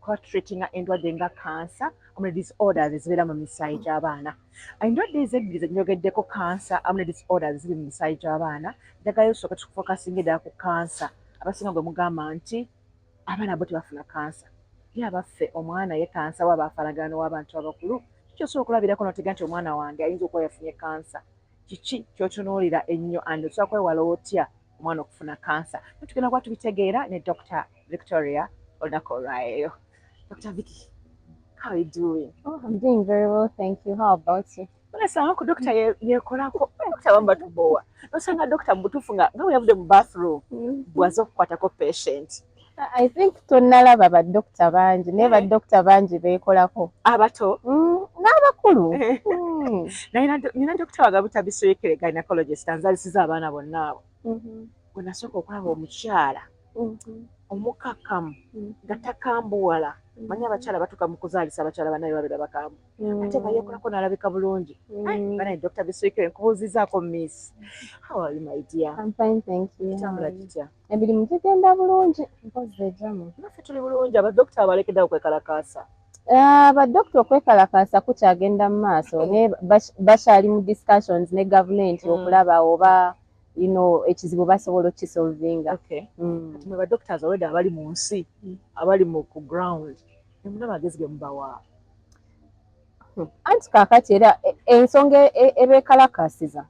kuba tutreatinga endwadde nga kansa amune disorders ezibeera mu misaayi gy'abaana endwadde ezo ebbiri zenjogeddeko kansa amune disorders ziri mu misaayi gy'abaana njagala osooka tukufokasinga eddala ku kansa abasinga gwe mugamba nti abaana bo tebafuna kansa ye abaffe omwana ye kansa waba afanagano w'abantu abakulu kikyosobola okulabirako notega nti omwana wange ayinza okuba yafunye kansa kiki kyotunuulira ennyo and osobola kwewala otya omwana okufuna kansa naye tugenda kuba tubitegeera ne dr victoria olunaku olwaeyo dr vicky how are you doing oh, i'm doing very well thank you how about you olasanga ku dokita yekolako dokita bamba tubowa nosanga dokita mubutuufu nga nga weyavudde mu bathroom mm-hmm. bwaza okukwatako patient I think tonnalaba badokita bangi naye eh. badokita bangi beekolako abato mm, n'abakulu eh. mm. nina dokita wagabuta bisoyekere gynecologist anzalisiza abaana bonna abo mm-hmm. wenasooka okulaba omukyala mm-hmm. omukakamu mm-hmm. nga takambuwala manya abakyala batuka mu kuzaalisa abakyala banaye babera bakambu ate nga yekolako nalabika bulungi banaye dokita bisoyekere nkubuuzizaako miss how are you my dear kitambula kitya Emirimu gigenda bulungi mpozzi ejamu. Naffe tuli bulungi abadokita abalekeddawo kwekalakaasa. Ah, badokita okwekalakaasa kukyagenda mu maaso hmm. naye bakyali mu discussions ne gavumenti hmm. okulaba oba you know ekizibu basobola okisolvinga. Okay. Mm. Kati mwe badokita already abali mu nsi mm. abali mu ku ground nemuna magezi ge mubawa. Hmm. Anti kaakati era e, ensonga e, e, ebeekalakaasiza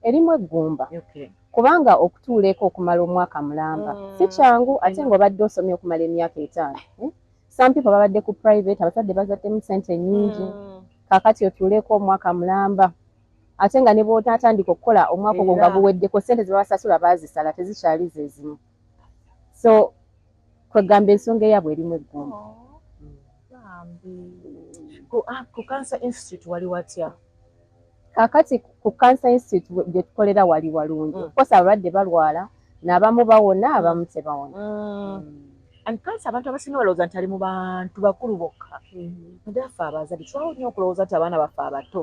erimu eggumba. Okay. kubanga okutuula eka okumala omwaka mulamba mm. si kyangu mm. ate nga obadde osomye okumala emyaka etaano eh? some people babadde ku private abazadde bazaddemu sente nyingi mm. kakati otuuleeko omwaka mulamba ate nga ne bwotatandika okukola omwaka ogwo nga guweddeko sente zebabasasula bazisala tezikyali zezimu so kwegamba ensonga eyabwe erimu eggumba oh, ku ah, cancer institute wali watya kakati ku cancer institute gye tukolera wali walungi mm. kosa abalwadde balwala n'abamu bawona mm. abamu tebawona mm. and kansa abantu abasinga balowooza nti ali mu bantu bakulu bokka nade affe abazadde twawo nnyo okulowooza nti abaana baffe abato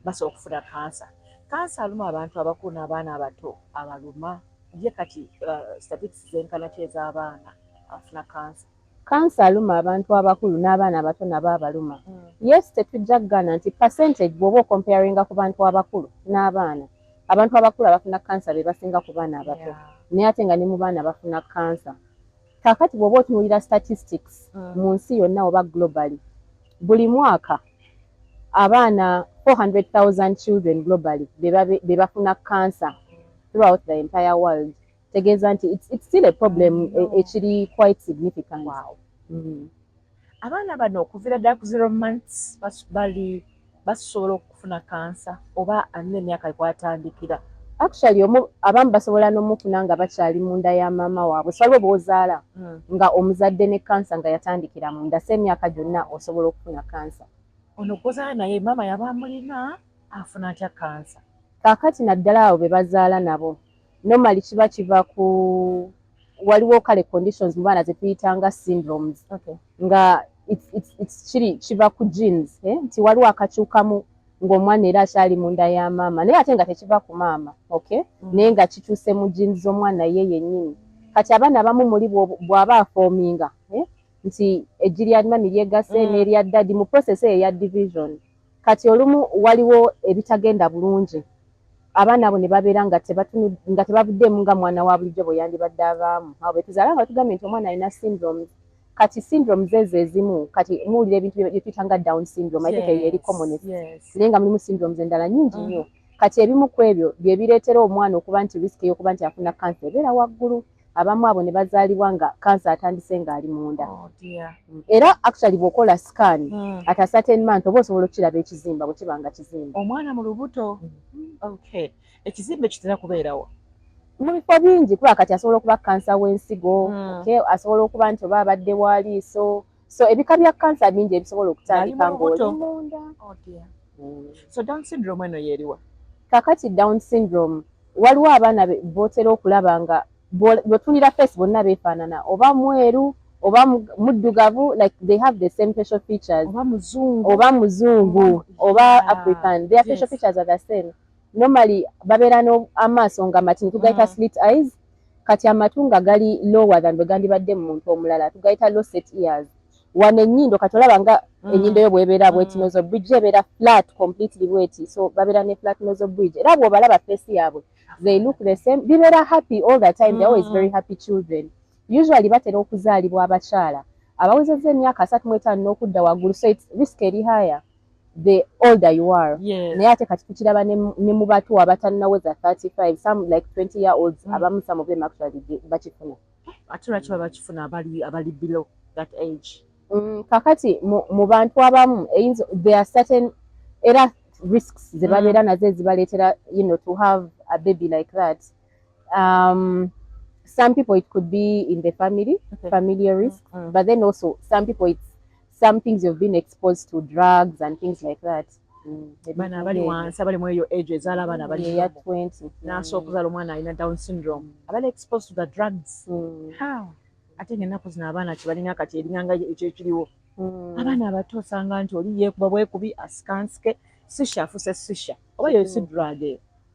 basobola okufuna kansa kansa aluma abantu abakulu n'abaana abato abaluma ye kati uh, statistics zenkana ki ez'abaana abafuna kansa Cancer aluma abantu abakulu n'abaana abato nabo abaluma. Yes tetujja kugaana nti percentage bwoba okomparinga ku bantu abakulu n'abaana, abantu abakulu abafuna cancer be basinga ku baana abato naye ate nga ne mu baana bafuna cancer. Kaakati bwoba otunuulira statistics mu nsi yonna oba globally, buli mwaka abaana 400,000 children globally be bafuna cancer throughout the entire world. tegeeza nti it's, it's still a problem e, ekiri quite significant wow. mm. abaana bano okuvira ddala ku zero months bali basobola okufuna kansa oba alina emyaka ekwatandikira actually omu abamu basobola n'omufuna nga bakyali munda ya maama waabwe saliwo bwozaala mm. nga omuzadde ne kansa nga yatandikira munda se emyaka gyonna osobola okufuna kansa ono gwozaala naye maama yaba amulina afuna atya kansa kakati naddala abo be bazaala nabo normally kiba kiva ku waliwo kale conditions mubaana zetuyitanga syndromes okay. nga kiri kiva ku jeans eh? nti waliwo akakyukamu ng'omwana era akyali munda ya maama naye ate nga tekiva ku maama okay mm. naye nga kikyuse mu jeans z'omwana ye yennyini kati abaana abamu muli bw'aba afoominga eh? nti ejjiri alima miryegase mm. n'erya ddadi mu process eyo eya division Kati olumu waliwo ebitagenda bulungi abaana abo ne babeera nga tebavuddeemu nga mwana wa bulijjo bwe yandibadde avaamu. Abo be tuzaala nga batugambye nti omwana alina syndromes. Kati syndromes ezo ezimu kati muwulira ebintu bye tuyita nga down syndrome, I think eyo eri commonest, naye nga mulimu syndromes endala nnyingi nnyo. Kati ebimu ku ebyo bye bireetera omwana okuba nti risk y'okuba nti afuna kkansa ebeera waggulu. abamu abo ne bazaalibwa nga kansa atandise ng'ali munda oh, mm. era actually bw'okola scan mm. ata certain month oba osobola okukiraba ekizimba bwe kiba nga kizimba omwana mu lubuto mm. okay ekizimba ekitera kubeerawo mu bifo bingi kuba kati asobola okuba kansa w'ensigo mm. okay asobola okuba nti oba abadde waliiso so ebika bya kansa bingi ebisobola okutandika ng'oli munda oh, mm. so down syndrome eno yeriwa kakati down syndrome waliwo abaana botera okulaba nga bwetunira face bonna befaanana oba mweru oba muddugavu like they have the same facial features oba muzungu oba muzungu oba african their facial features are the same normally babeera n'amaaso nga matini tugayita mm. slit eyes kati amatu nga gali lower than bwe gandibadde mu muntu omulala tugayita low set ears wano ennyindo kati olaba nga mm. ennyindo yo bwebeera bweti mm. nozo bridge ebeera flat completely bweti so babeera ne flat nozo bridge era bwobalaba face yaabwe they look the same bibeera happy all the time they're always mm. very happy children usually batera okuzaalibwa abakyala abawezezza emyaka asatu mu etaano n'okudda waggulu so its risk eri higher the older you are yes. naye ate kati tukiraba ne mu bato abatannaweza 35 some like 20 year olds mm. abamu some of them actually bakifuna ate lwaki baba bakifuna abali abali below that age mm, kakati mu, mu bantu abamu eyinza there are certain era risks zebabeera mm. nazo ezibaleetera you know to have a baby like that um, some people it could be in the family okay. familiar mm, risk mm -hmm. but then also some people it's some things you've been exposed to drugs and things like that mm, bana abali wansi abali mweyo age ezaala abaana abali ya 20 naso okuzala omwana alina down syndrome mm. abali exposed to the drugs mm. how ate ngenaku zino abaana kyebalina kati eringanga ekyo ekiriwo mm. abaana abato osanga nti oli yekuba bwekubi asikansike sisha afuse sisha oba yosi mm. drug eyo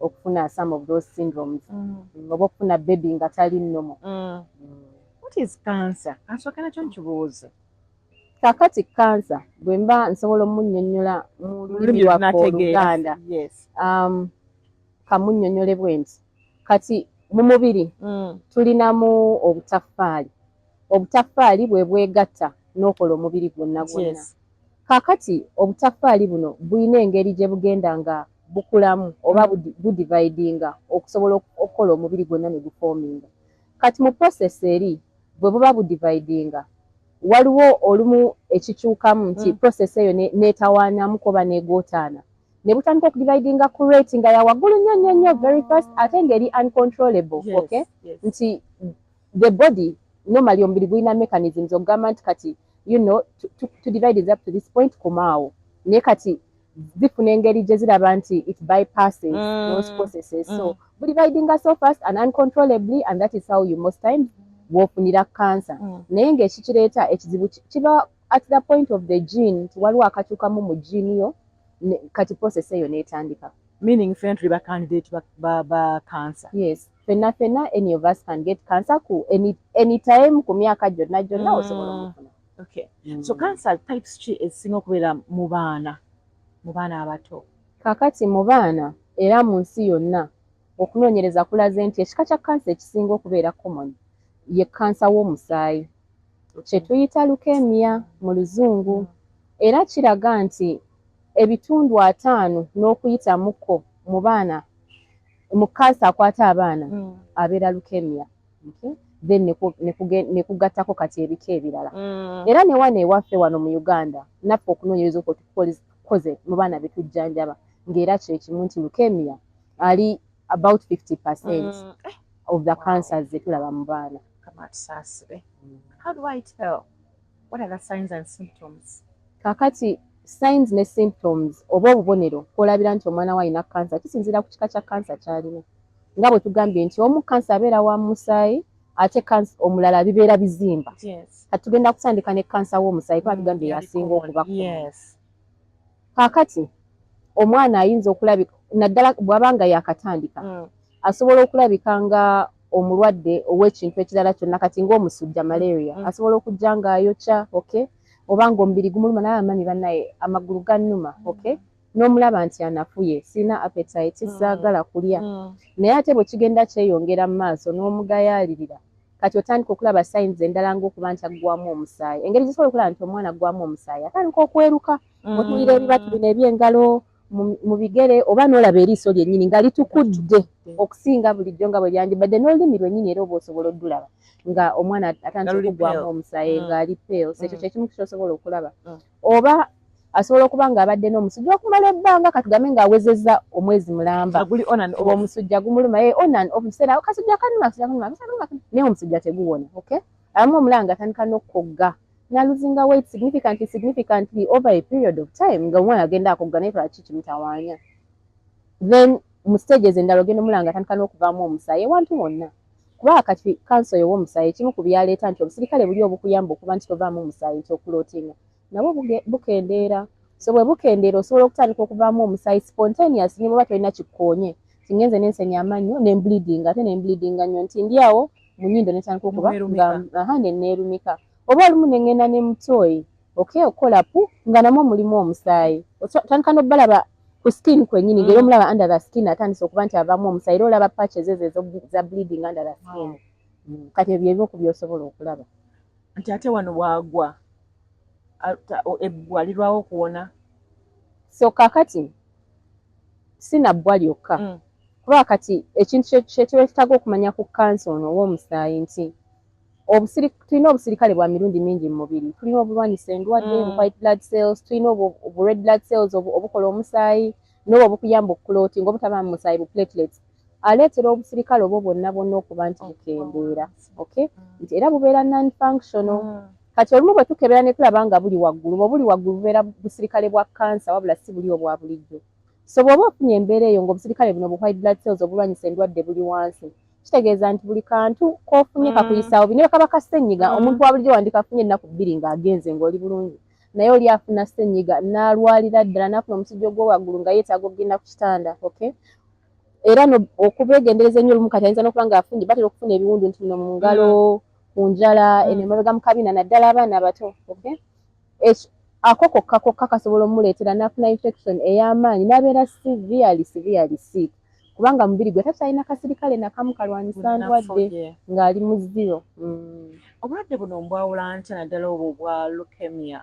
okufuna some of those syndromes mm. mm oba okufuna baby nga tali nomo mm. mm. what is cancer asokera kyo nkibuuze kakati kansa bwe mba nsobola omunyonyola mu lulimi lwaffe oluganda um, kamunyonyole bwe nti kati mu mubiri mm. tulinamu obutaffaali obutaffaali bwe bwegatta n'okola omubiri gwonna gwonna kakati obutaffaali buno bulina engeri gye bugenda nga bukulamu oba budividinga okusobola okukola omubiri gwonna ne gufoominga kati mu process eri bwe buba budividinga waliwo olumu ekikyukamu nti mm. process eyo neetawaanamuko oba neegootaana ne butandika okudividinga ku rate nga ya waggulu nnyo nnyo nnyo very fast ate ng'eri uncontrollable yes, okay yes. nti the body normally omubiri gulina mechanisms okugamba nti kati you know to, to, to divide is up to this point kumaawo naye kati zifuna engeri gye ziraba nti it bypasses mm. those processes mm. so buli ridinga so fast and uncontrollably and that is how you most times wofunira cancer mm. naye ngaekikireeta ekizibu kiba at the point of the gene nti waliwo akakyukamu mu gene yo kati process eyo netandika meaning fena tuli ba candidate ba, ba, ba cancer yes fena fena any of us can get cancer ku any, any time ku myaka gyonna gyonna mm. osobola omufuna Okay. Mm. So cancer types ki ezisinga okubeera mu baana mu baana abato? Kakati mu baana era mu nsi yonna okunoonyereza kulaze nti ekika kya kansa ekisinga okubeera common ye kansa w'omusaayi kye tuyita leukemia mu luzungu era kiraga nti ebitundu ataano n'okuyitamuko mu baana mu kansa akwata abaana mm. abeera leukemia. then nekugattako kati ebika ebirala mm. era newano ewaffe wano mu uganda naffe okunonyereza okwo tukoze mu baana betujjanjaba ngaera kyekimu nti lukemia ali about 50 percent mm. eh. of the cancers zetulaba mu baana What are the signs and symptoms? Kakati signs ne symptoms oba obubonero kwolabira nti omwana wo alina kansa kisinziira ku kika kya kansa kyalina nga bwe tugambye nti omu kansa abeera wa musaayi ate kansa omulala bibeera bizimba kati tugenda kutandika ne kansa w'omusaayi kuba tugambye yasinga okuba kaakati omwana ayinza okulabika naddala bw'aba nga yakatandika mm. asobola okulabika nga omulwadde ow'ekintu ekirala kyonna kati ng'omusujja malaria mm. asobola okujja ng'ayokya okay oba ng'omubiri gumuluma naye amanyi bannaye amagulu gannuma mm. okay n'omulaba nti anafuye sirina appetite mm. saagala kulya naye ate bwe kigenda kyeyongera mu maaso n'omugayaalirira kati otandika okulaba sayins endala ng'okuba nti aggwamu omusaayi engeri gyesobola okulaba nti omwana aggwamu omusaayi atandika okweruka otuwulira ebibatu bino eby'engalo mu bigere oba n'olaba eriiso lyennyini nga litukudde okusinga bulijjo nga bwe lyandibadde n'olulimi lwennyini era oba osobola oddulaba nga omwana atandika okugwamu omusaayi mm. ng'ali peels ekyo mm. kyekimu kyosobola okulaba mm. oba asobola okuba ng'abadde n'omusujja okumala ebbanga katugambe ng'awezezza omwezi mulamba omusujja gumuluma ye eh, onan obuseera kasujja kanuma kasujja kanuma naye omusujja teguwona okay abamu omulanga atandika n'okukogga na luzinga weight significantly significantly over a period of time nga omwana agenda akugga naye lwaki kimutawaanya then mu stage ezo endala ogenda omulaba nga atandika n'okuvaamu omusaayi ewantu wonna kuba kati kanso yowa omusaayi ekimu ku byaleeta nti obusirikale buli obukuyamba okuba nti tovaamu omusaayi nti okulootinga nabwo bukendeera so bwe bukendeera osobola okutandika okuvaamu omusaayi spontaneous ne bweba tolina kikkoonye kingenze nensenya amannyo ne mbleeding ate ne mbleedinga nnyo nti ndi awo mu nnyindo ne ntandika okuba nga aha ne nneerumika oba olumu ne ŋŋenda ne mutooyi okay okukola pu nga namwo mulimu omusaayi otandika n'obalaba ku skin kwennyini ngeri mm. omulaba under the skin atandise okuba nti avaamu omusaayi era olaba patches ezo ezo za bleeding under the skin mm. kati ebyo ebimu ku byosobola okulaba nti ate wano waagwa ebbwa lirwawo okuwona so kakati sinabbwa lyokka mm. kuba kati ekintu kyetwetaga okumanya ku kansa ono ow'omusaayi nti tulina obusirikale bwa mirundi mingi mu mubiri tulina obulwanyisa endwadde mm. white blood cells tulina obu red blood cells obukola omusaayi nobo obukuyamba okukuloti nga obutaba mu musaayi bu platelets aleetera obusirikale obwo bwonna bwonna okuba nti bukendeera okay mm. nti era bubeera non functional mm. kati olumu bwe tukebera ne tulaba nga buli waggulu bwe buli waggulu bubeera busirikale bwa kansa wabula si buli obwa bulijjo So bw'oba ofunye embeera eyo ng'obusirikale buno bu white blood cells obulwanyisa endwadde buli wansi, kitegeeza nti buli kantu k'ofunye kakuyisaawo bubi. Ne bwe kaba ka ssennyiga, omuntu wa bulijjo wandikafunye ennaku bbiri ng'agenze ng'oli bulungi. Naye oli afuna ssennyiga n'alwalira ddala n'afuna omusujja ogw'owaggulu nga yeetaaga okugenda ku kitanda. Okay? Era no, okubeegendereza ennyo olumu kati ayinza n'okuba ng'afunye batera okufuna ebiwundu nti bino mu ngalo, ku njala, eno emabega mu kabina naddala abaana abato. Okay? ako kokka kokka kasobola omuleetera n'afuna infection ey'amaanyi n'abeera severely severely sick kubanga mubiri gwe takyalina kasirikale nakamu kalwanyisa ndwadde ng'ali mu zero mm. obulwadde buno mbwawula ntya naddala obwo bwa leukemia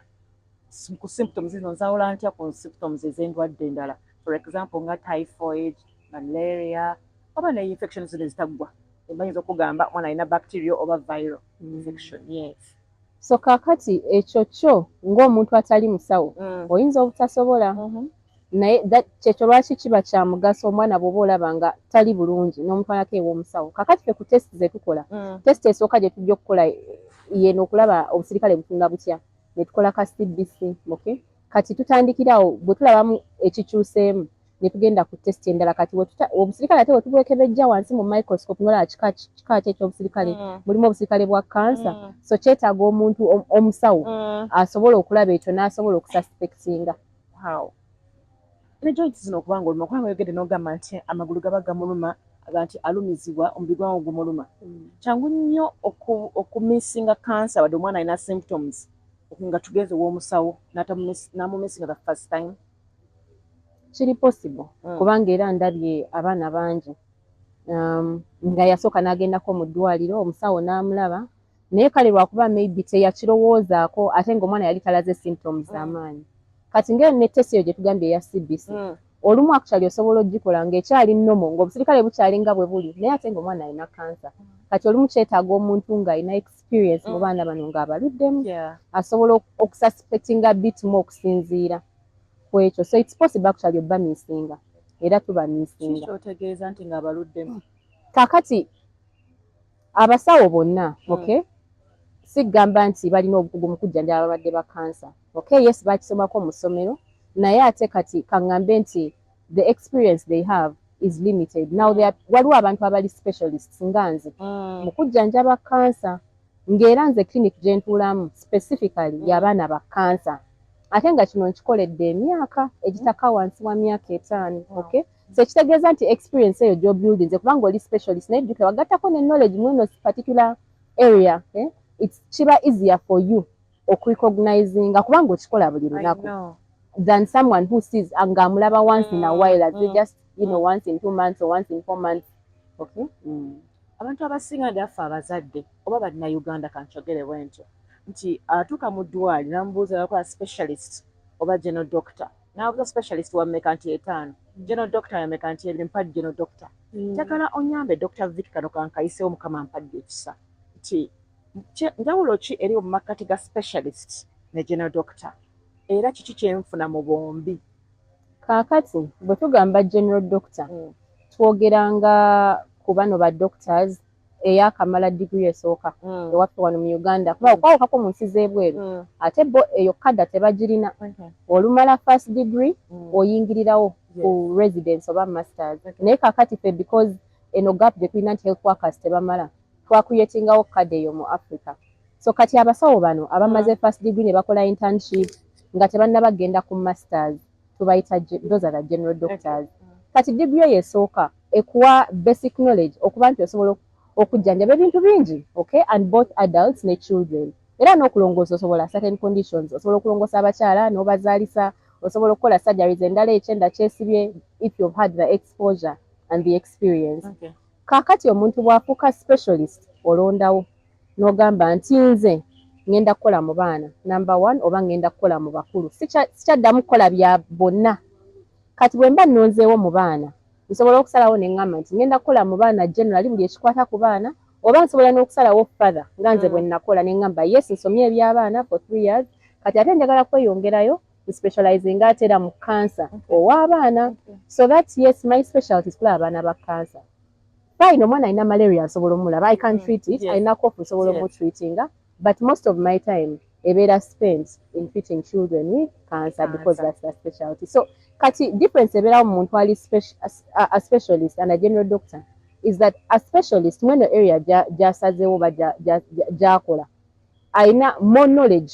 ku symptoms zino nzawula ntya ku symptoms ez'endwadde endala for example nga typhoid malaria oba ne infection zino ezitaggwa ebayinza okugamba omwana alina bacteria oba viral mm. infection yes So kakati ekyo kyo ng'omuntu atali musawo mm. oyinza obutasobola mm -hmm. naye kyekyo lwaki kiba kya mugaso omwana bwoba olaba nga tali bulungi n'omutwalako ew'omusawo kakati fe ku test zetukola mm. test esooka gye tujja okukola yeno okulaba obusirikale butunga butya netukola ka cbc okay? kati tutandikirawo bwe tulabamu ekikyuseemu ne tugenda ku test endala kati wetuta obusirikale ate wetubwekebejja wansi mu microscope nolaba kika kika ki ekyobusirikale mm. mulimu obusirikale bwa kansa mm. so kyetaaga omuntu omusawo mm. asobola okulaba ekyo n'asobola okususpectinga wow. ne joint zino okuba nga oluma kubanga oyogedde n'ogamba nti amagulu gaba gamuluma nti alumizibwa omubiri gwange gumuluma mm. kyangu nnyo okumisinga kansa wadde omwana alina symptoms nga tugeze ow'omusawo n'amumisinga the first time kiri possible mm. kubanga era ndabye abaana bangi um, nga yasooka n'agendako mu ddwaliro omusawo n'amulaba naye kale lwakuba maybe teyakirowoozaako ate ngaomwana yali talaze symptoms mm. amaanyi kati ngaeyo ne test eyo gye tugambye eya cbc mm. olumu akutali osobola ogikola ngaekyali nomo ngaobusirikale bukyali nga bwe buli naye ate ngaomwana alina kansa kati olumu kyetaaga omuntu ng'alina experience mu mm. baana bano ng'abaluddemu asobola okususpectinga bit mu okusinziira ku ekyo so its possible actually obba misinga era tuba misinga kyotegeeza nti ng'abaluddemu kakati abasawo bonna mm. okay sigamba nti balina obukugu mu kujjanjaba ababadde ba kansa okay yes bakisomako mu ssomero naye ate kati kaŋŋambe nti the experience they have is limited now they are waliwo abantu abali specialists nga nze mm. mu kujjanjaba kansa ng'era nze clinic gye ntuulamu specifically mm. y'abaana ba kansa ate nga kino nkikoledde emyaka egitaka mm. wansi wa myaka etaano mm. okay so ekitegeeza nti experience eyo gyobuildinze kubanga oli specialist naye jjukira wagattako ne knowledge mweno particular area eh? kiba easier for you okurecognizinga kubanga okikola buli lunaku than someone who sees nga amulaba once in a mm, while as mm, just you know mm. once in two months or once in four months okay mm. abantu abasinga ndaffe abazadde oba bannayuganda kankyogere bwentyo nti atuuka mu ddwali namubuuza yakola specialist oba geno doctor nabuuza specialist wameka nti etaano geno doctor yameka nti ebiri mpadde geno doctor njagala onyambe doctor vik kano kankayisewo mukama mpadde ekisa nti Njawulo ki eriwo mu makkati ga specialist ne general doctor era kiki kyenfuna mu bombi? Kaakati bwe tugamba general doctor mm. twogera nga ku bano ba doctors eyakamala digiri esooka mm. ewaffe wano mu uganda kuba mm. okwawukako mu nsi z'ebweru mm. ate bo eyo kada tebagirina okay. olumala first degree mm. oyingirirawo yes. ku residence oba masters okay. naye kakati fe because eno gap gyetulina nti health workers tebamala twakuyetingawo kkadi eyo mu Africa. So kati abasawo bano abamaze mm. first degree ne bakola internship nga tebannaba kugenda ku masters tubayita those are the general doctors. Kati degree eyo esooka ekuwa basic knowledge okuba nti osobola okujjanjaba ebintu bingi okay and both adults ne children era n'okulongoosa osobola certain conditions osobola okulongoosa abakyala n'obazaalisa osobola okukola surgeries endala ekyenda kyesibye if you've had the exposure and the experience. Okay. Kaakati omuntu bw'afuuka specialist olondawo n'ogamba nti nze ngenda kukola mu baana namba one oba ngenda kukola mu bakulu sikyaddamu kukola bya bonna kati bwe mba nnonzeewo mu baana nsobola okusalawo ne ŋŋamba nti ngenda kukola mu baana generali buli ekikwata ku baana oba nsobola n'okusalawo father nga nze bwe mm. nnakola ne ŋŋamba yes nsomye eby'abaana for three years kati ate njagala kweyongerayo we specializing ate era mu cancer ow'abaana so that yes my specialty is kulaba abaana ba cancer fine omwana alina malaria nsobola omulaba i can mm, treat it alina kofu nsobola omutreatinga but most of my time ebeera spent in treating children with cancer because that's the specialty so kati difference ebeerawo mu muntu ali a specialist and a general doctor is that a specialist mweno area gyasazeewo ba gyakola alina more knowledge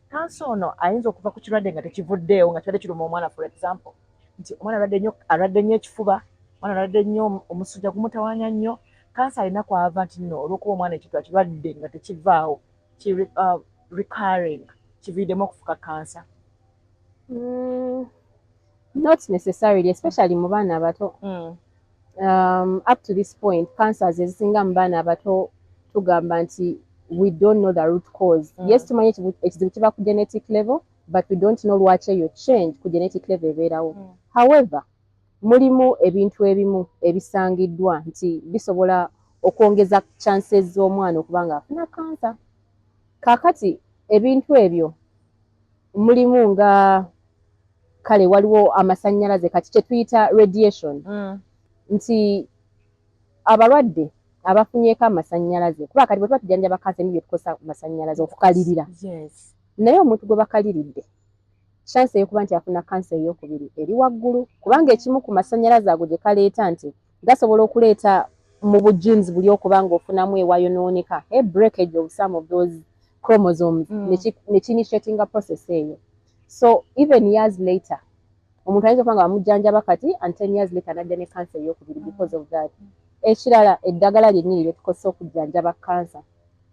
Kansa ono ayinza okuva ku kirwadde nga tekivuddeewo nga kirwadde kiruma omwana for example nti omwana alwadde nnyo alwadde nnyo ekifuba omwana alwadde nnyo omusujja gumutawanya nnyo kansa alina kwava nti nno olwokuba omwana ekintu akirwadde nga tekivaawo ki uh, recurring kiviidemu okufuka kansa mm, not necessarily especially mu baana abato mm. um, up to this point cancers ezisinga mu baana abato tugamba nti we don't know the root cause mm. yes tumanyi ekizibu kiba ku genetic level but we don't know lwaki eyo change ku genetic level ebeerawo mm. however mulimu ebintu ebimu ebisangiddwa nti bisobola okwongeza chances z'omwana okuba nga afuna kansa kaakati ebintu ebyo mulimu nga kale waliwo amasannyalaze kati kyetuyita radiation mm. nti abalwadde abafunyeko amasannyalaze kuba kati bwetuba tujanjaba kansa emi byetukozesa masannyalaze okukalirira naye omuntu gwe bakaliridde chanse eyokuba nti afuna kansa eyokubiri eri waggulu kubanga ekimu ku masannyalaze ago gye kaleeta nti gasobola okuleeta mu bu genes buli okuba nga ofunamu ewayonooneka e eh, breakage of some of those chromosomes mm. nekiinitiatinga process eyo so even years later omuntu ayinza okuba nga bamujjanjaba kati and ten years later najja ne kansa eyokubiri mm. because of that ekirala eddagala lyennyini lyetukozesa okujjanjaba kansa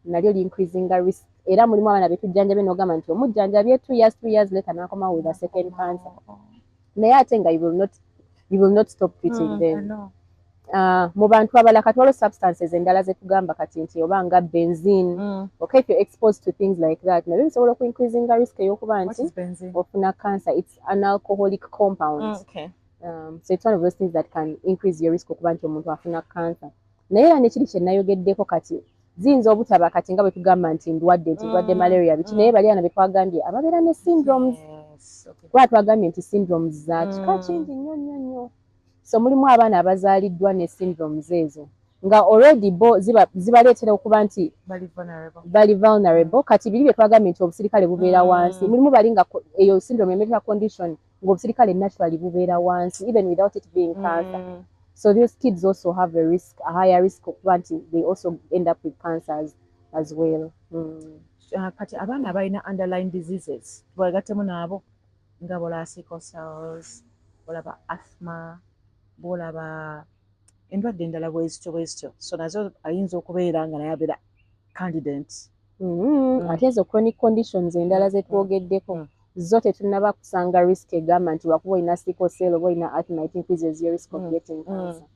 nalyo liincreasinga risk era mulimu abaana betujjanjabe nogamba nti omujjanjabye two years two years later nakomawo with a second cancer oh, oh. naye ate nga you will not, you will not stop treating mm, them Uh, mu bantu abala kati waliwo substances endala zetugamba kati nti oba nga benzine mm. okay if you're exposed to things like that nabyo bisobola oku increasinga risk eyokuba nti ofuna cancer it's an alcoholic compound mm, okay. um, so it's one of those things that can increase your risk okuba nti omuntu afuna cancer naye era nekiri kyenayogeddeko kati ziyinza obutaba kati nga bwetugamba nti ndwadde nti ndwadde mm, malaria biki mm. naye bali ana betwagambye ababeera ne syndromes kuba twagambye nti syndromes zakika mm. kingi nnyo nnyo nnyo so mulimu abaana abazaaliddwa ne syndromes ezo nga already bo zibaleetera okuba nti bali vulnerable kati biri byetwagambye nti obusirikale bubeera wansi mulimu bali nga eyo syndrome emetea condition ng'obusirikale naturally bubeera wansi even without it being cancer mm. so these kids also have a risk a higher risk okuba nti they also end up with cancers as well mm. uh, kati abaana abalina underline diseases tubagattemu naabo nga bola sickle cells bolaba asthma bolaba endwadde endala bwezityo bwezityo so nazo ayinza okubeera nga naye abeera candident mm-hmm. mm. ate ezo chronic conditions endala mm. zetwogeddeko mm. zo tetunaba kusanga risk egamba nti wakuba olina sickle cell oba olina arthmite increases your risk of getting cancer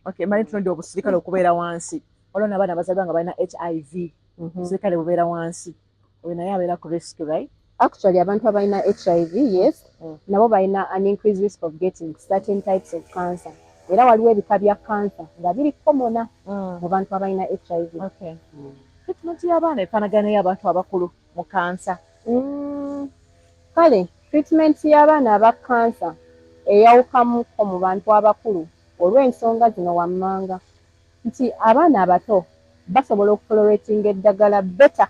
okay mali tunodi obusirikale okubeera wansi olwo nabaana bazalibwa nga balina hiv mm-hmm. obusirikale bubeera wansi mm -hmm. oyo naye abeera ku risk right actually abantu abalina hiv yes mm. nabo balina an increase risk of getting certain types of cancer era waliwo ebika bya cancer nga biri komona mm. mu bantu abalina hiv okay. mm. treatment y'abaana efanagana y'abantu abakulu mu kansa mm. kale treatment y'abaana aba kansa eyawukamuko mu bantu abakulu olw'ensonga zino wammanga nti abaana abato basobola okutoleratinga eddagala better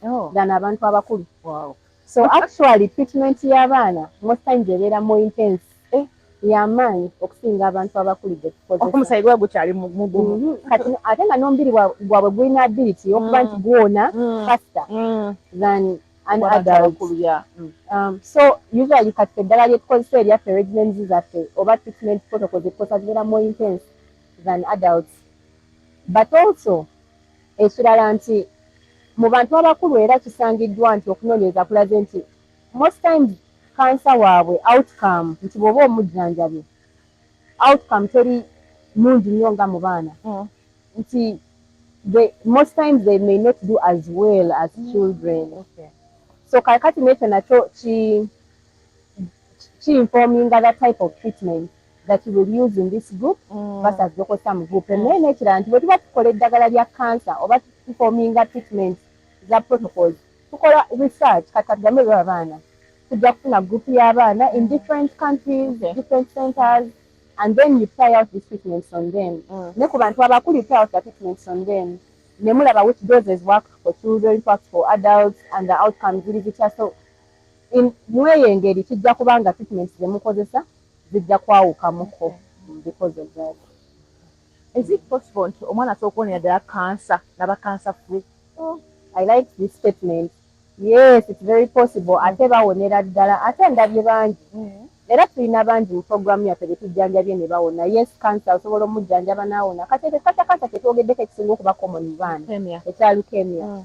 oh. than abantu abakulu wow. so actually treatment y'abaana most times ebeera more intense eh. yamaanyi okusinga abantu abakulu gyetukozeomusaayi gwa gukyali mugumu mhm. kati ate nga n'omubiri gwabwe gulina ability okuba nti mm. gwona mm. faster mm. than an adult mm. um, so usually kati eddala lyetukozesa erya peregimens zaffe oba treatment protocol zetukozesa zibeera more intense than adults but also ekirala nti mu bantu abakulu era kisangiddwa nti okunoonyereza kulaze nti most times kansa waabwe outcome nti bw'oba omujjanjabye outcome teri nungi nnyo nga mu baana mm. nti most times they may not do as well as mm. children so kakati nekyo nakyo ki informinga the type of treatment that you will use in this group mm. versus local some group mm. naye nekirala nti bwetuba tukola eddagala lya cancer oba informinga treatment za protocols tukola research kati katugambe byo abaana tujja kufuna group y'abaana in different countries okay. different centers and then you try out these treatments on them mm. ne ku bantu abakulu you try out the treatments on them nemulaba which doses work for children works for adults and the outcomes ziri zitya so In, mweyo engeri kijja kuba nga treatments zemukozesa zijja kwawukamuko because of that. Is it possible nti omwana asobola kuwonera ddala cancer naba cancer free? Oh, I like this statement. Yes, it's very possible mm. ate bawonera ddala ate ndabye bangi mm. era tulina bangi mu programu yaffe betujjanjabye ne bawona. Yes, cancer osobola omujjanjaba n'awona. Kati ekyo kata cancer kyetwogeddeko ekisinga okuba common mu baana ekya leukemia. Mm.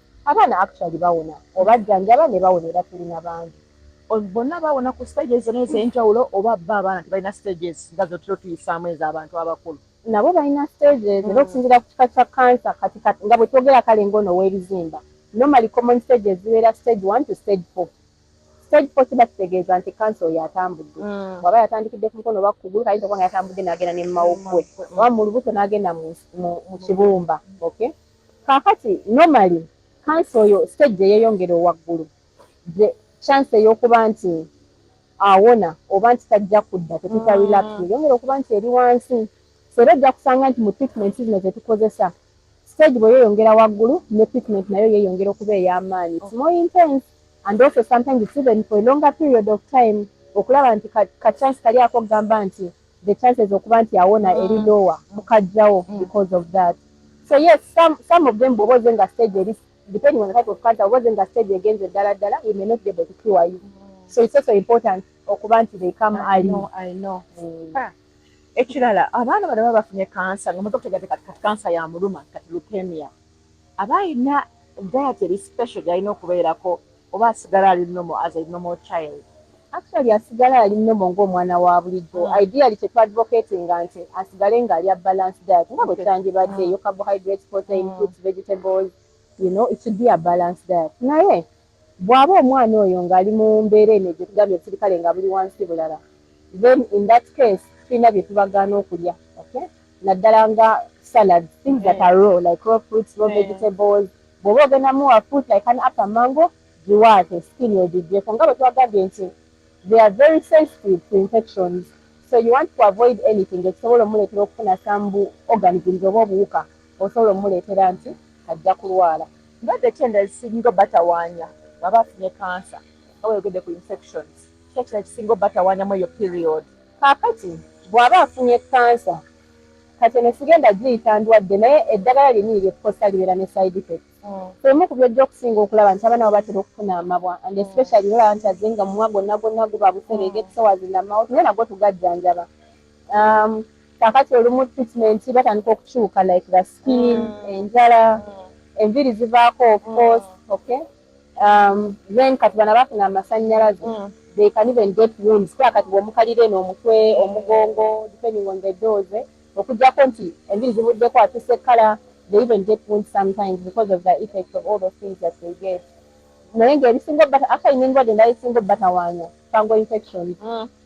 abaana actually bawona obajjanjaba ne bawona era tulina bangi bonna bawona ku stages zona ez'enjawulo oba bo abaana tebalina stages nga zotera otuyisaamu ez'abantu abakulu nabo balina stages era okusinzira ku kika kya kansa kati nga bwe twogera kale ng'ono ow'ebizimba normally common stages zibeera stage one to stage four stage four kiba kitegeeza nti kansa oyo atambudde mm. bwaba yatandikidde ku mukono oba kugulu kayinza okuba nga yatambudde n'agenda ne mumawuggwe mm. oba mu lubuto n'agenda mu kibumba okay Kakati normally kansa oyo stage gyeyeyongera owaggulu the chance eyokuba nti awona oba nti tajja kudda tetuta mm. relax yeyongera okuba nti eri wansi era ojja kusanga nti mu treatment zino zetukozesa stage bweyeyongera waggulu ne treatment nayo yeyongera okuba ey'amaanyi it's more intense and also sometimes it's even for a longer period of time okulaba nti kachance kali ako okugamba nti the chances okuba nti awona mm. eri lower mukajjawo mm. because of that so yes some, some of them bwoba oze nga stage eri depending on the type of cancer oba oze nga stage egenze ddala ddala we may not be able to cure you mm. so it's also important okuba nti they come early i know mm. ah. ekirala abaana bano baba bafunye kansa nga muza kutegateka kati kansa ya muluma kati leukemia aba alina diet eri special gyalina okubeerako oba asigala ali nomo as a normal child actually asigala ali nomo ng'omwana wa bulijjo mm. ideally kyetwadvocati nga nti asigale nga alya balance diet nga bwe kyandibadde eyo mm. carbohydrate protein mm. fruits vegetables you know it should be a balance diet naye bw'aba omwana oyo ng'ali mu mbeera eno egyo tugambye obusirikale nga buli wansi bulala then in that case tulina bye tubagaana okulya okay naddala nga salad things that are raw like raw fruits raw vegetables Bwoba ogenda muwa fruit like an apple mango giwaate skin egigyeko nga bwetwagambye nti they are very sensitive to infections so you want to avoid anything ekisobola omuleetera okufuna some bu organisms oba obuwuka osobola omuleetera nti ajja kulwala ndwadde ki endala ezisinga obatawanya bwaba afunye cancer nga bweyogedde ku infections ki ekirala ekisinga obatawanya mweyo period. Kaakati bwaba afunye cancer kati eno sigenda giyita ndwadde naye eddagala lyenyini lyekukosa libeera ne side effect emu ku byojja okusinga okulaba nti abaana bo batera okufuna amabwa and especially olaba nti aze nga mumwa gonna gonna guba busereega episowazi namawot naye nagwo tugajjanjaba um, kakati olumu treatment batandika okukyuka like the skin enjala enviri zivaako of course okay um, then kati bana bafuna amasanyalaze mm. they can even get wounds kuba kati bwomukalira eno omutwe omugongo depending on the dose okujjako nti enviri zibuddeko atuse kala they even get wounds sometimes because of the effect of all those things that they get naye ngaebisinga obata after inengodde naesinga obatawaanya fango infections mm.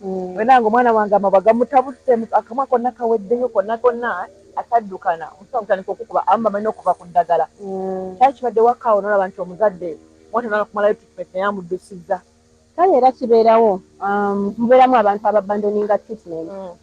Mm. Wena ngo mwana wange amabwa gamutabuse akamwa konna kaweddeyo konna konna ataddukana omutima gutandika okukuba abamu bamanyi n'okuva ku ddagala mm. kyali kibadde wakaawo nolaba nti omuzadde mwata nala kumalayo treatment naye amuddusizza kale era kibeerawo um, mubeeramu abantu ababandoninga treatment mm.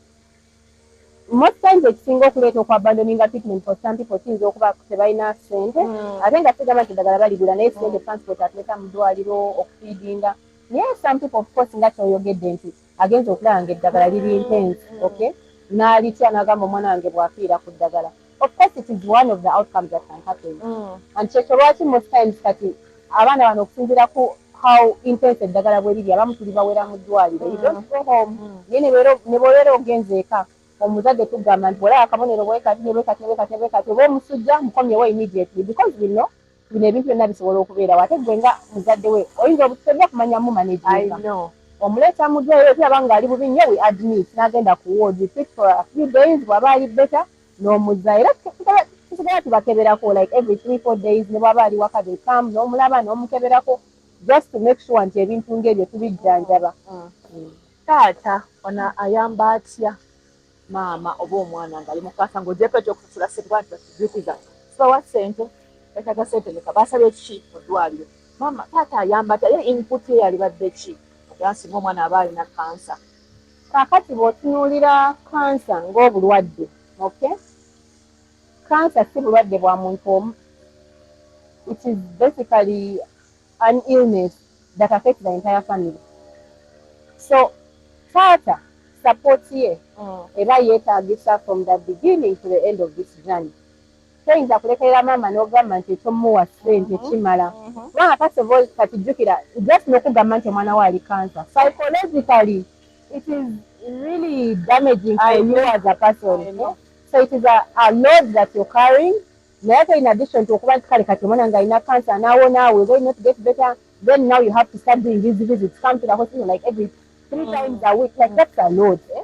most times ekisinga okuleeta okuabandoninga treatment for some people kiyinza okuba tebalina sente hmm. ate nga sigamba nti eddagala baligula naye sente hmm. transport atuleta mu ddwaliro okufiidinga naye some people of course nga kyoyogedde nti agenza okulaba nga eddagala liri intense hmm. okay n'alitya n'agamba omwana wange bw'afiira ku ddagala of course it is one of the outcomes that can happen mm. and kyekyo lwaki most times kati abaana bano okusinzira ku how intense eddagala bwe liri abamu tuli bawera mu ddwaliro you don't go home mm. naye ne bwobeera ogenze eka omuzadde tugamba nti olaba akabonero bwekati nebwekati nebwekati nebwekati oba omusujja mukomyewo immediately because we know bino ebintu byonna bisobola okubeerawo ate gwe nga muzadde we oyinza obutusobya kumanya mu manejinga omuleeta mu ddwaliro tulaba ng'ali bubi nnyo we admit n'agenda ku ward fit for a few days bw'aba ali better n'omuzza era tusigala tubakeberako like every three four days ne bwaba ali waka they come n'omulaba n'omukeberako just to make sure nti ebintu ng'ebyo tubijjanjaba mm. mm. taata ona ayamba atya maama oba omwana ngaali mukwasa ngaogyeko ekyokusasula sente bantu batujukiza sibawa sente betaga sente meka basabye ki mu ddwaliro maama taata ayamba atya ye input ye yalibadde ki agansinga omwana aba alina kansa kaakati bw'otunuulira kansa ng'obulwadde okay kansa si bulwadde bwa muntu omu it is basically an illness that affect the entire family so taata support ye mm. eba yeetagisa from the beginning to the end of this journey Toyinza kulekerera maama nogamba nti ekyomuwa sente kimala kubanga first of all kati jjukira just nokugamba nti omwana wo ali cancer psychologically it is really damaging for you as a person so it is a, a load that you're carrying naye ate in addition to okuba nti kale kati omwana nga alina cancer nawona will they not get better then now you have to start doing these visits come to the hospital like every three mm. times a week like that's a load eh?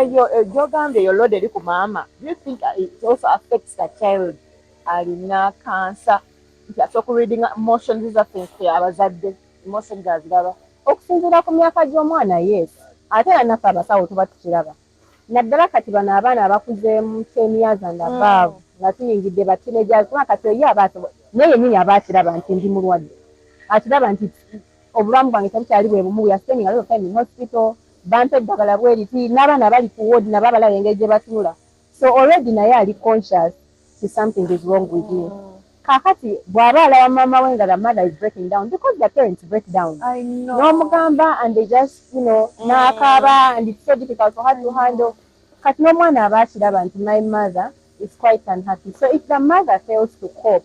Eyo gyogambye eyo load eri ku maama. Do you think it also affects the child? Alina kansa nti asobola ku reading emotions zaffe nfe abazadde emotions aziraba okusinziira ku myaka gy'omwana yes ate era naffe abasawo tuba tukiraba naddala kati bano abaana abakuzeemu kyemiyaza ndabaavu mm. nga tuyingidde batineja kuba kati oyo aba naye yenyini aba akiraba nti ndi mulwadde akiraba nti obulamu bwange tebukyali bwe bumu ya sending alot of time in hospital bampa eddagala bweriti n'abaana abali ku ward nabo abalaba engeri gye batunula so already naye ali conscious to something is wrong with me kakati bw'aba alaba maama we nga the mother is breaking down because the parents break down n'omugamba and they just you know mm. n'akaaba and it's so difficult for her to handle kati n'omwana aba akiraba nti my mother is quite unhappy so if the mother fails to cope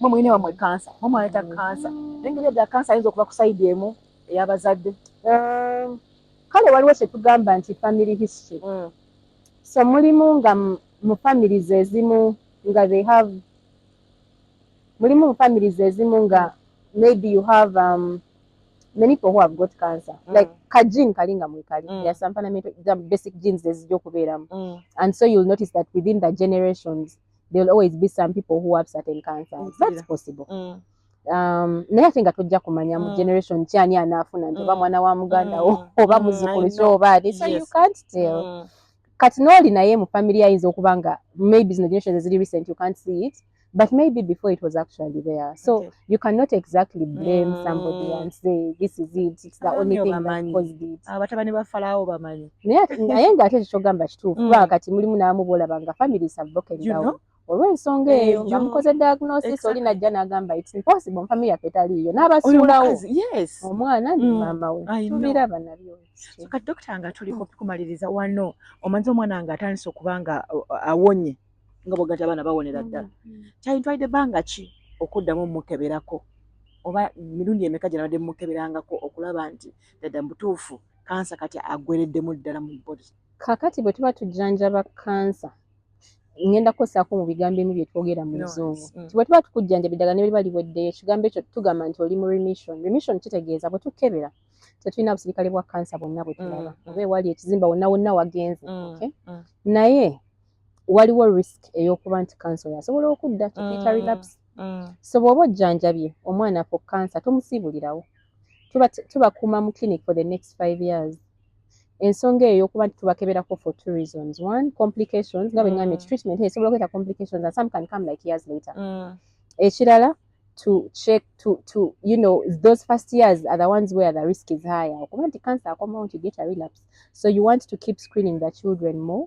mwe mulina wamwe kansa mwe mwaleta kansa nengeri edda kansa ayinza okuba ku sayidi emu eyabazadde um, kale waliwo kyetugamba nti family history mm. so mulimu nga mu families ezimu nga they have mulimu mu families ezimu nga maybe you have um, many people who have got cancer mm. like ka gene kali nga mwekali mm. there are some fundamental basic genes ezija okubeeramu mm. and so you'll notice that within the generations there'll always be some people who have certain cancers that's possible mm. um, naye ate nga tojja kumanya mu mm. generation kyani anaafuna nti oba mm. mwana wa muganda wo mm. oba muzukulu kyo oba ali so you can't tell kati nooli naye mu family ayinza okuba nga maybe zino generations eziri recent you can't see it but maybe before it was actually there so you cannot exactly blame mm. somebody and say this is it it's the only thing that caused it abatabani ah, ba falawo bamanyi naye nga ate ekyogamba kituufu kubanga mm. kati mulimu naamu bolaba nga families have broken down olw'ensonga eh, eyo nga mukoze diagnosis oli najja n'agamba it's impossible nfamiry yaffe taliiyo n'abasuulawo omwana ni mm. maama we tubiraba nabyo kati dokita nga tuli kumaliriza wano omanzi omwana nga atandise okuba nga awonye nga bwogati abaana bawonera mm, ddala mm. kyayintwalidde ebbanga ki okuddamu omukeberako oba mirundi emeka gye nabadde mukeberangako okulaba nti ddadda mubutuufu kansa kati agwereddemu ddala mu body kakati bwe tuba tujjanjaba kansa ngenda kukosaako mu bigambo emu bye twogera mu luzungu mm. bwe tuba tukujjanjaba eddagala ne beriba liweddeyo ekigambo ekyo tugamba nti oli mu remission remission kitegeeza bwe tukebera tetulina busirikale bwa kansa bwonna bwe tulaba oba ewali ekizimba wonna wonna wagenze naye waliwo risk eyokuba nti kansa oyo asobola okudda tukiyita mm, relaps mm. so bwoba ojjanjabye omwana fo kansa tomusiibulirawo tubakuuma mu clinic for the next five years ensonga eyo yokuba nti tubakeberako for two reasons one complications nga bweŋambye nti mm. treatment esobola okuleeta complications and some can come like years later ekirala to check to to you know those first years are the ones where the risk is higher okuba nti cancer akomawo nti get a relapse so you want to keep screening the children more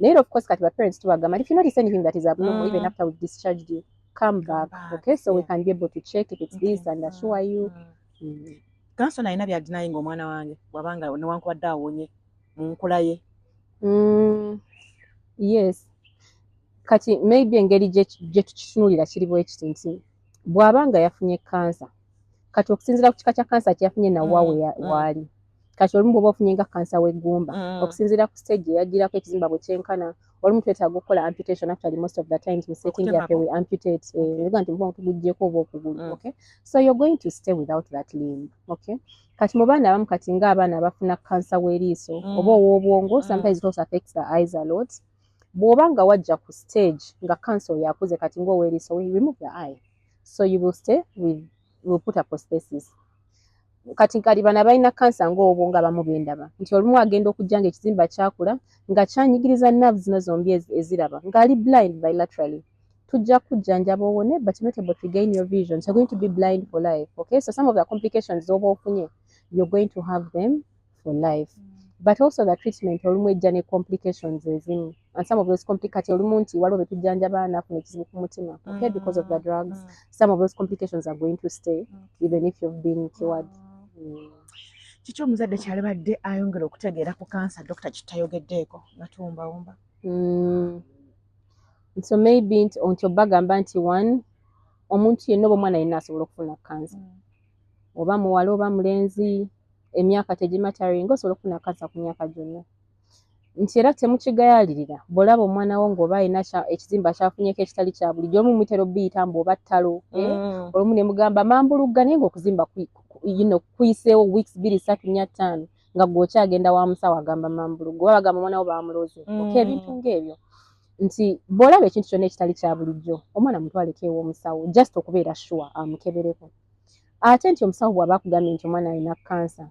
Later, of course, kati ba parents to agama. If you notice anything that is abnormal, mm. even after we've discharged you, come back. back. Okay, so yeah. we can be able to check if it's okay. this and assure mm. you. Mm. Mm. Kanso nalina bya denying omwana wange wabanga newankubadde awonye mu nkula ye. Mm. Yes. Kati maybe engeri gye tukitunulira kiri bwekiti nti bw'aba nga yafunye kansa kati okusinzira ku kika kya kansa kyeyafunye nawa mm. waali mm. kati olumu bwoba ofunye nga kansa w'eggumba mm. okusinziira ku stage eyajjirako ekizimba bwe kyenkana olumu twetaaga okukola amputation actually most of the times mu setting yaffe we amputate eh, nga nti muba tuguggyeko oba okugulu mm. okay so you're going to stay without that limb okay kati mu baana abamu kati nga abaana abafuna kansa w'eriiso mm. oba ow'obwongo sometimes it also affects the eyes a lot bw'oba nga wajja ku stage nga kansa oyo akuze kati ng'ow'eriiso we remove the eye so you will stay with will put a prosthesis kati kali bana balina kansa ng'obwo nga bamu bendaba nti olumu agenda okujja nga ekizimba kyakula nga kyanyigiriza nav zino zombi eziraba ng'ali blind bilaterally tujja kujjanjaba owone but not able to gain your vision so going to be blind for life okay so some of the complications oba ofunye you're going to have them for life mm. but also the treatment olumu ejja ne complications ezimu and some of those complicati olumu nti waliwo betujjanjaba nafuna ekizibu ku mutima okay mm. because of the drugs mm. some of those complications are going to stay mm. even if you've been cured mm. mm. kiki omuzadde kyalibadde ayongera okutegeera ku kansa dokita kitayogeddeeko nga tuwumbawumba mm. so maybe nti onti obagamba nti one omuntu yenna oba omwana yenna asobola okufuna kansa mm. oba muwala oba mulenzi emyaka tegimataringa osobola okufuna kansa ku myaka gyonna nti era temukigayalirira bwolaba omwana wo ngaoba alina ekizimba kyafunyeko ekitali kya bulijjo olumu mutera obiyita mbu oba ttalo eh? mm. olumu ne mugamba mambulugga naye ngaokuzimba kuyiseewo weeks biri satu nya ttaano nga gweokyagenda wa musawo agamba mambulugga oba bagamba omwana wo bamuloze mm. oka ebintu ngaebyo nti bwolaba ekintu kyonna ekitali kya bulijjo omwana mutwaleko ewomusawo just okubeera sure amukebereko ate nti omusawo bwaba akugambye nti omwana alina kansa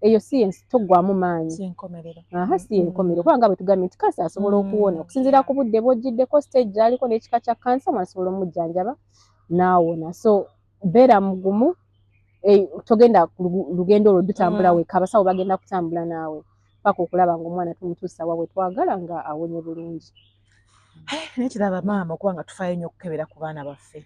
eyo si yensi toggwamu maanyi si yenkomerero mm-hmm. kubanga bwe tugambye nti kansa asobola mm-hmm. okuwona okusinziira ku budde bwojjiddeko stage gyaliko n'ekika kya kansa omwana asobola omujjanjaba n'awona so beera mugumu eh, togenda lugendo olwo dutambula mm. weka abasawo bagenda kutambula naawe paka okulaba nga omwana tumutuusa wa wetwagala nga awonye bulungi eh, nekiraba maama okuba nga tufayo nnyo okukebera ku baana baffe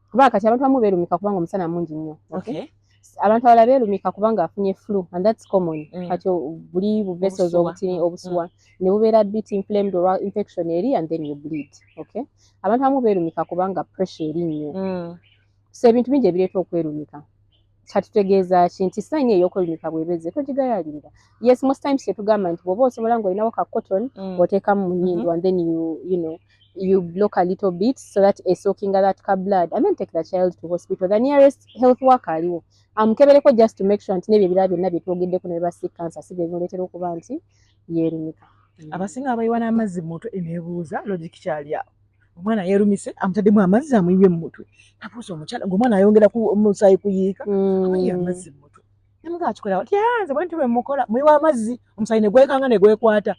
kuba kati abantu bamu berumika kubanga omusana mungi nnyo okay. abantu abala berumika kubanga afunye flu and that's common mm. kati buli bu vessels obutini mm. obusuwa mm. ne bubeera bit inflamed or infection eri and then you bleed okay abantu bamu berumika kubanga pressure eri nnyo mm. so ebintu bingi ebireeta okwerumika kyatutegeeza ki nti sayini ey'okulimika bwebeze togigayalirira yes most times kyetugamba nti bwoba osobola ngaolinawo ka cotton mm. oteekamu mu nyindo mm-hmm. and then you, you know you block a little bit so that esookinga that ka blood and then take the child to hospital the nearest health work aliwo amukebereko um, just to make sure nti nebyo ebirala byonna byetwogeddeko ne basi cancer si byebimuleetera okuba nti yeerimika mm. abasinga abayiwa n'amazzi mu mutwe eneebuuza logic kyali awo omwana yerumise amutaddemu amazzi amuyiye mu mutwe abuuza omukyala gwe omwana ayongera ku musaayi kuyiika mm. amuyiye amazzi mu mutwe namuga akikola wati anze ah, bwentu bwemukola muyiwa amazzi omusaayi negwekanga negwekwata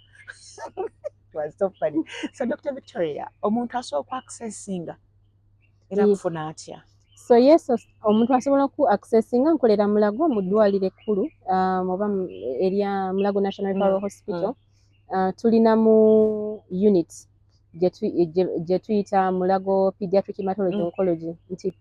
so dr victoria omuntu asooka accessinga era kufuna atya so yes omuntu asobola ku accessinga nkolera mulago mu ddwaliro ekkulu um, oba erya mulago national mm, hospital mm. uh, tulina mu unit gye tuyita mulago pediatric hematology mm. oncology nti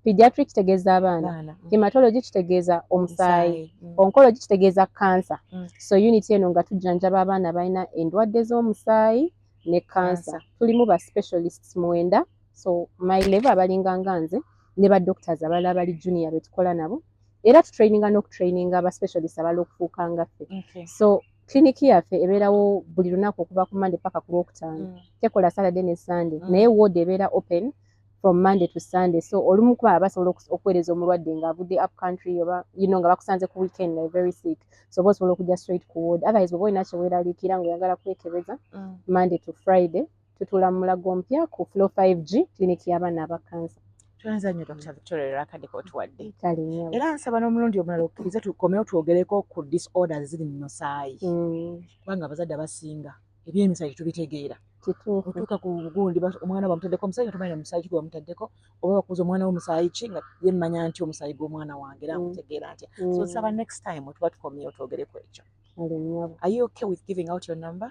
pediatric kitegeeza abaana mm. hematology kitegeeza omusaayi mm. oncology kitegeeza kansa mm. so unit eno nga tujjanjaba abaana balina endwadde z'omusaayi ne kansa tulimu ba specialists mwenda so my level abalinga nga nze ne ba doctors abala abali junior betukola nabo era tutraininga n'okutraininga aba specialist abala okufuuka ngaffe so Clinic yaffe ebeerawo buli lunaku okuva ku Monday paka ku Lwokutaano. Mm. Tekola Saturday ne Sunday. Mm. Naye ward ebeera open from Monday to Sunday. So olumu kuba abasobola okuweereza omulwadde nga avudde up country oba you know nga bakusanze ku weekend nga very sick. So oba osobola okujja straight ku ward. Otherwise oba olina kye weeraliikira nga oyagala kwekebeza mm. Monday to Friday. tutuula mu mulago ompya ku flow 5g clinic y'abaana aba kansa tweyanza nnyo dr victoria olwakadde kotuwadde kale nnyo era nsaba n'omulundi omulala okkirize tukomewo twogereko ku disorders ziri mu musaayi mm. kubanga abazadde abasinga ebyemisayi tubitegeera otuuka ku gundi omwana bamutaddeko omusaayi tomanyi omusaayi ki gwebamutaddeko oba bakuuza omwana wo musaayi ki nga ye mmanya nti omusaayi gw'omwana wange era mm. nkutegeera ntya mm. so nsaba next time tuba tukomyeyo twogere ku ekyo are you okay with giving out your number